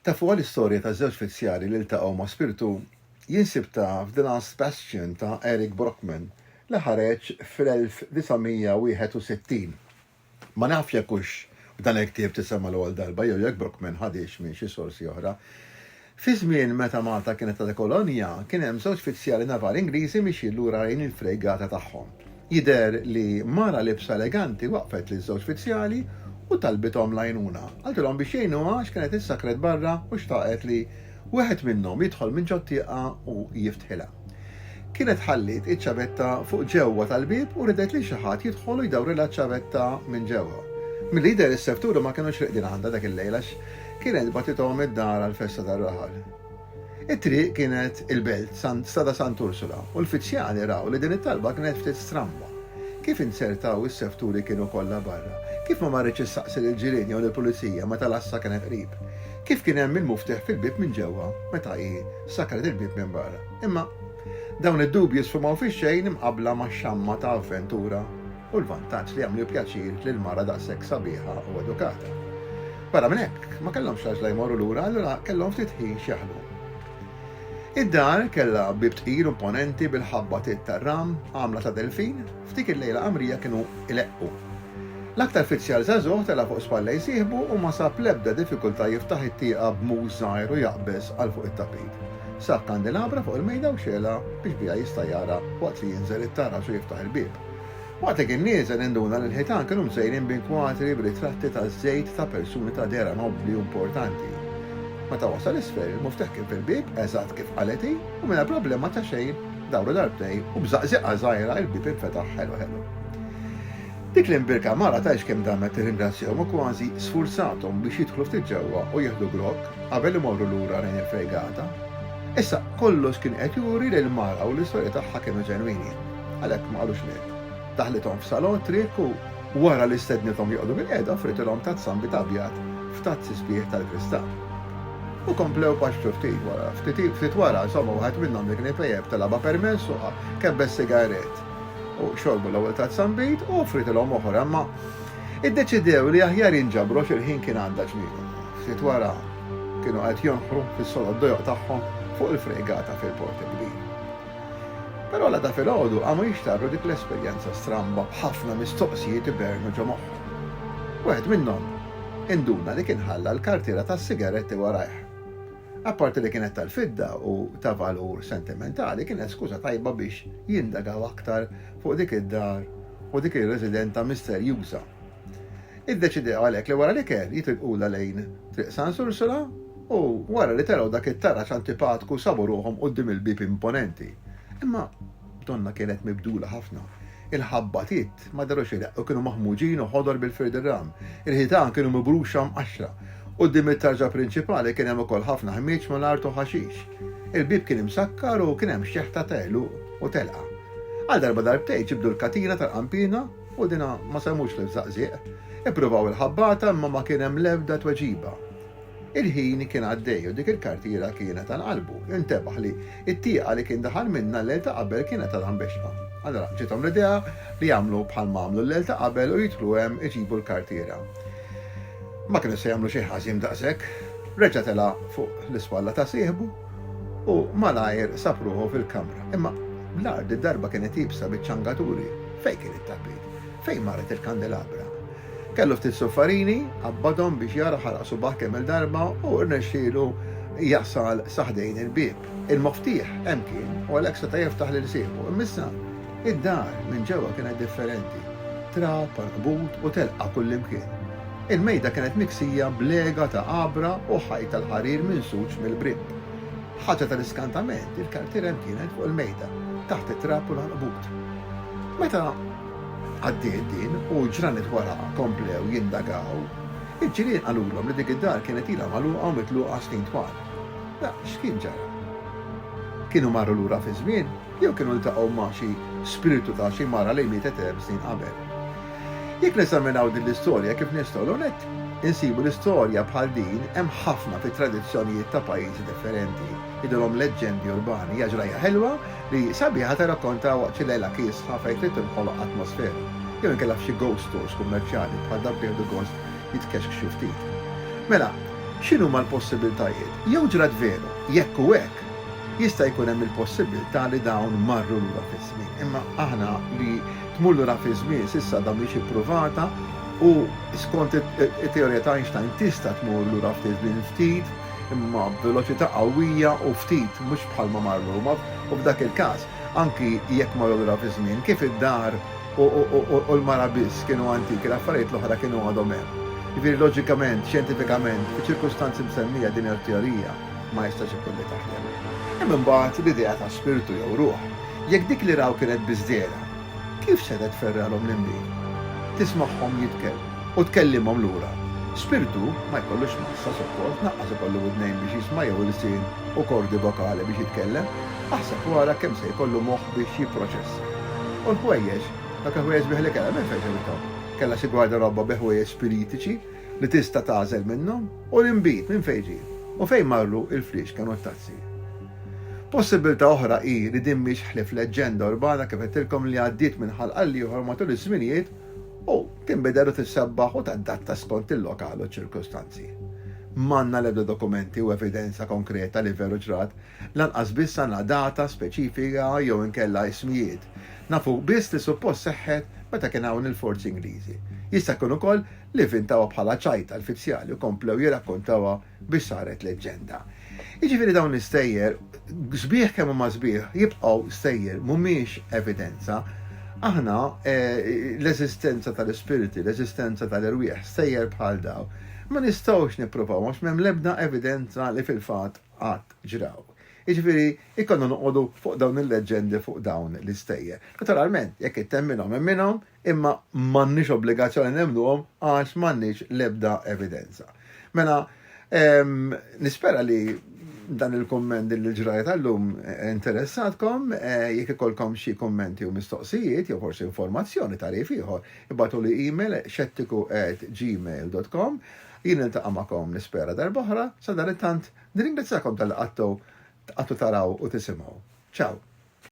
Tafuha l-istorja ta' żewġ fizzjari li ltaqgħu ma' spirtu? Jinsib ta' f'The Last Bastion ta' Eric Brockman li ħareġ fl-1961. Ma nafx jekk hux f'dan il-ktieb tisema' l-ewwel darba jew jekk Brockman ħadhiex minn xi sorsi oħra. Fi żmien meta Malta kienet għadha kolonja, kien hemm żewġ fizzjali navali Ingliżi mixjin lura lejn il-frejgata tagħhom. Jidher li mara libsa eleganti waqfet liż-żewġ fizzjali u talbithom l-għajnuna. Qaltilhom biex jgħinuha għax kienet issakret barra u xtaqet li wieħed minnhom jidħol minn ġot-tieqa u jiftħilha. Kienet ħalliet iċ-ċavetta fuq ġewwa tal-bieb u ridet li xi ħadd jidħol u jdawrilha ċ-ċavetta minn ġewwa. Milli jidher is-servturi ma kinux riqdin għandha dak il-lejl għax kienet bagħtithom id-dar għall-festa tar-raħal. It-triq kienet il-Belt, Strada Sant'Ursula, u l-fizzjali raw li din it-talba kienet ftit stramba. Kif inzertaw is-sevturi kienu kollha barra. Kif ma marritx issaqsi lill-ġirien jew lill-pulizija meta l-għassa kienet qrib. Kif kien hemm il-muftieħ fil-bieb minn ġewwa meta hi Sakret il-bieb minn barra. Imma dawn id-dubji sfumaw fix-xejn imqabbla max-xamma ta' avventura u l-vantaġġ li jagħmlu pjaċir lil mara daqshekk sabiħa u edukata. Barra minn hekk, ma kellhomx għaġla jmorru lura, allura kellhom ftit ħin x'jaħdmu. Id-dar kellha bieb tqil u imponenti bil-ħabba tiet tar-ram għamla ta' delfin. F'dik il-lejla qamrija kienu jleqqu. L-aktar fizzjar żagħżugħ tela' fuq spalla jsieħbu u ma sab l-ebda diffikultà jiftaħ it-tieqa b'mhux żgħir u jaqbeż għal fuq it-tapit. Sab kandilabra fuq il-mejda u xegħelha biex biha jista' jara waqt li jinżel it-taraġ u jiftaħ il-bieb. Waqt li kien nieżel induna li l-ħitan kienu mżejnin b'inkwatri b'ritratti taż-żejt ta' persuni ta' dehra nobbli u importanti. Meta wasal isfel, il-muftieħ kien fil-bieb, eżatt kif qalet hi, u mingħajr problema ta' xejn, Dawru darbtejn u b'żaqżiqa żgħira il-bieb infetaħ ħelu ħelu. Dik l-imbirka mara tgħidx kemm damet tirringrazzjahom u kważi sfurzathom biex jidħlu ftit ġewwa u jieħdu grokk qabel imorru lura lejn il-fergata. Issa kollox kien qed juri li l-mara u l-istorja tagħha kienu ġenwini. Għalhekk ma qalux xejn. Daħlithom f'salon triq u Wara li stednithom joqogħdu bilqiegħda offritilhom tazza nbid abjad f'tazzi sbieħ tal-kristall. U komplew paxxu ftit wara. Ftit wara, insomma, waħed minnhom li kien ipejjep telgħabha permess u kebbes sigarett. U xorbu l-ewwel tazza nbid u offritilhom oħra, imma iddeċidew li aħjar jinġabru għax il-ħin kien għadda ġmielu. Ftit wara kienu qed jonħru fis-sodod dojoq tagħhom fuq il-frejgata fil-Port il-Kbir. Però l-għada filgħodu qamu jixtarru dik l-esperjenza stramba b'ħafna mistoqsijiet ibernu ġo moħħu. Wieħed minnhom induna li kien ħalla l-kartiera tas-sigaretti warajh. Apparti li kienet tal-fidda u ta' valur sentimentali kienet skuża tajba biex jindagaw aktar fuq dik id-dar u dik ir-residenta misterjuża. Iddeċidew għalhekk li wara l-ikel jitilqulha lejn Triq San Sursula u wara li telgħu dak it-taraġ antipatku sabu ruħhom quddiem il-bieb imponenti. Imma donnha kienet mibdula ħafna. Il-ħabbatiet ma dehru xi reqq u kienu maħmuġin u ħodor bil-firdirram. Il-ħitan kienu mibruxa mqaxxra. Quddiem it-tarġa prinċipali kien hemm ukoll ħafna ħmieġ mal-art u ħaxix. Il-bieb kien imsakkar u kien hemm xeħta ta' għeluq u telqa. Għal darba darbtejn ġibdu l-katina tal-qanpiena U dina ma semux fil-Żaqżieq. Ippruvaw il-ħabbata imma ma kien hemm l-ebda tweġiba. Il-ħin kien għaddej u dik il-kartiera kienet għal qalbu. Intebaħ li t-tieqa li kien daħal minnha l-lejl ta' qabel kienet għadha mbexxqa. Allura ġiethom l-idea li jagħmlu bħal ma għamlu l-lejl ta' qabel u jidħlu hemm iġibu l-kartiera. Ma kienu se jagħmlu xejn ħażin daqshekk. Reġa' tela' fuq l-ispalla ta' sieħbu. U malajr sab ruħu fil-kamra. Imma l-art id-darba kienet iebsa biċ-ċangaturi. Fejn kien it-tapit? Fejn marret il-kandelabra? Kellu ftit suffarini, qabbadhom biex jara ħaraq subaħ kemm-il darba u rnexxielu jasal sa ħdejn il-bieb. Il-moftieħ hemm kien u għalhekk seta' jiftaħ lil sieħbu. Imma issa? Id-dar minn ġewwa kienet differenti, trab, ankbut u telqa kullimkien. Il-mejda kienet miksija b'lega ta' għabra u ħajt tal-ħarir minsuġ mill-bripp. Ħaġa tal-iskantament, il-kartiera hemm kienet fuq il-mejda, taħt it-trab u l-ankbut. Meta għaddiet din u ġranet wara komplew jindagaw, il-ġirien qalulhom li dik id-dar kienet ilha magħluqa u mitluqa snin twal. X'kien ġara? Kienu marru lura fiż-żmien? Jew kienu ltaqgħu ma' xi spirtu ta' xi mara li mietet erb' snin qabel. Jekk neżaminaw din l-istorja kif nistgħu l-ewwel nett insibu li storja bħal din hemm ħafna fit-tradizzjonijiet ta' pajjiżi differenti. Jidhirhom leġġendi urbani. Hija ġrajja ħelwa li sabiħa tirrakkonta waqt xi lejla kiesħa fejn trid tinħoloq atmosfera. Jew inkella f'xi ghost stores kummerċjali bħal dawk li jieħdu gost jitkexkxu ftit. Mela, x'inhuma l-possibiltajiet? Jew ġrat veru? Jekk hu hekk, Jista' jkun hemm il-possibbiltà li dawn marru lura fiż-żmien, imma aħna li tmur lura fiż-żmien s'issa għadha mhix ippruvata u skont it-teorija ta' Einstein tista' tmur lura ftit żmien ftit imma b'veloċità qawwija u ftit mhux bħalma marru u f'dak il-każ anki jekk marru lura fiż-żmien kif id-dar u l-mara biss kienu antiki l-affarijiet l-oħra kienu għadhom hemm. Jiġifieri loġikament, xjentifikament, fiċ-ċirkustanzi msemmija din hija t-teorija. ma jistax ikun li taħdem. Hemm imbagħad l-idea ta' spirtu jew ruħ. Jekk dik li raw kienet biss dehra, kif setgħet tferrgħalhom l-imbiegħ? Tismagħhom jitkellmu u tkellimhom lura. Spirtu ma jkollux massa suppos, naqqas ikollu widnejn biex jisma' jew ilsien u kordi vokali biex jitkellem. Aħseb u ara kemm se jkollu moħħ biex jipproċessa. U l-ħwejjeġ, dak il-ħwejjeġ bih li kellha minn fejn se jibdhom? Kellha xi gwarderobba bi ħwejjeġ spiritiċi? li tista' tagħżel minnhom u l-inbid minn fejn ġie u fejn marru l-fliexken u t-tazzi. Possibbiltà oħra hi li din mhix ħlief leġġenda urbana kif għedtilkom li għaddiet minn ħalq għall-ieħor matul iż-żminijiet u tinbidel u tissebbaħ u tadatta skont il-lokal u ċ-ċirkustanzi. M'għandna l-ebda dokumenti u evidenza konkreta li veru ġrat, lanqas biss għandna data speċifika jew inkella ismijiet. Nafu biss li suppost seħħet meta kien hawn il-forzi Ingliżi. Jista' jkun ukoll li vvintawha bħala ċajt tal-fizzjali u komplew jirrakkontawha biex saret leġġenda. Jiġifieri dawn l-istejjer, sbieħ kemm huma sbieħ, jibqgħu stejjer, mhumiex evidenza. Aħna eh, l-eżistenza tal-ispiriti, l-eżistenza tal-irwieħ, stejjer bħal daw, ma nistgħux nippruvaw għax m'hemm l-ebda evidenza li fil-fatt qatt ġraw. Jiġifieri ikonna noqogħdu fuq dawn il-leġġendi fuq dawn l-istejjer. Naturalment, jekk ittemmilhom hemm minhom, Imma m'għandniex obbligazzjoni nemmnuhom għax m'għandniex l-ebda evidenza. Mela, nispera li dan il-kumment din il-ġrajja tal-lum interessatkom, jekk ikolkom xi kummenti u mistoqsijiet jew forsi informazzjoni tarif ieħor, ibatu li email xettiku@gmail.com. Jien niltaqa' magħkom nispera darb'oħra, sadanittant nirringrazzjakom tal-li qattu taraw u tisimgħu. Ciao!